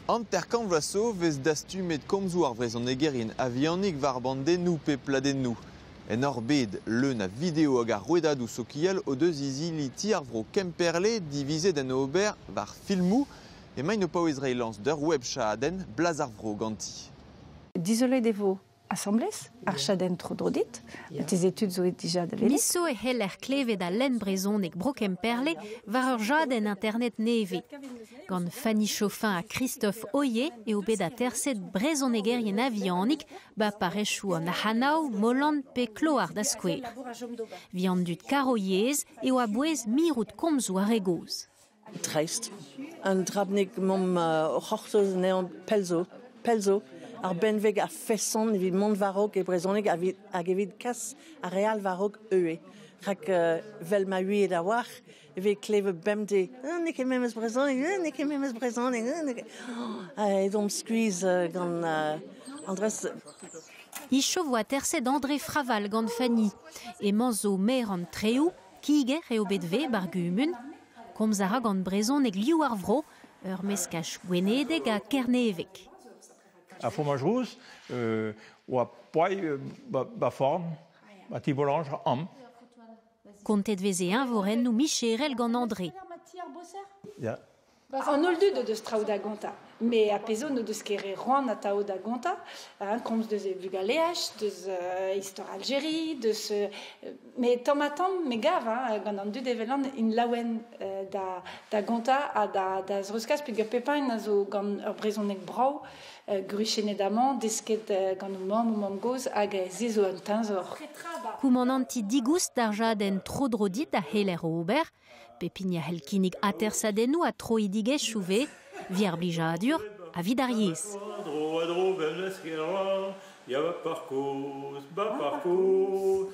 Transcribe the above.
Hanter-kant vloaz zo 'vez dastumet komzoù ar vrezhonegerien a-vihanik war bandennoù pe pladennoù. En hor bed, leun a video hag a rouedadoù sokial o deus izili Ti ar Vro Kemperle divizet en ober war filmoù emaint o paouez reiñ lañs d'ur web chadenn, Blaz ar Vro ganti. Dizolet e vo asambles, ar chadenn tro-dro dit, marteze tud zo dija da welet. Miso e c'heller klevet al lenn brezhonek Bro Kemperle war ur jadenn internet nevez. Gant Fanny Chauffin ha Christophe Oyer eo bet aterset brezhonegerien a-vihanik ba parrechoù an Ahanav, Molan pe Kloar da skouer. Vihan dud karo yezh eo a-bouez mirout komzoù ar re gozh. dreist. Un dra bennak emaomp o c'hortoz anezhañ pell zo, pell zo, ar benveg a-feson evit mont war-raok e brezhoneg hag evit kas ar re all war-raok ivez. Rak vel ma ouiet a-walc'h e vez klevet bemdez n'eo ket memes brezhoneg, n'eo ket memes brezhoneg. Edomp skuizh gant Andrez. Hicho 'vo aterset André Fraval gant Fanny. Emañ zo maer an Treoù, Kiger eo bet ivez ba'r gumun. Komz a ra gant brezhoneg liv ar vro, ur meskaj gwenedeg ha kerneveg. Ar fromaj rous euh, oa poai euh, ba, forn, ba tibolanj am. Kontet veze eñvorennoù micherel gant André. Ya, An holl dud o deus traoù da gontañ, met ar pezh zo n'o deus ket re c'hoant atav da gontañ, komz deus e vugaleaj, deus istor Aljerie, deus... met tamm-ha-tamm me gav gant an dud evelan int laouen da gontañ ha da zreuzkas peogwir pep ein a zo gant ur brezhoneg brav, gruchennet amañ, desket gant o mamm, o mamm-gozh, hag se zo un teñzor. Koumananti digoust d'ar jadenn tro-dro dit a c'heller ober Pep hini a c'hell kinnig atersadennoù ha troidigezhioù ivez, evit ar blijadur ha evit ar yezh. Tro a dro vel eskerañ, ya ba parkour, ba parkour.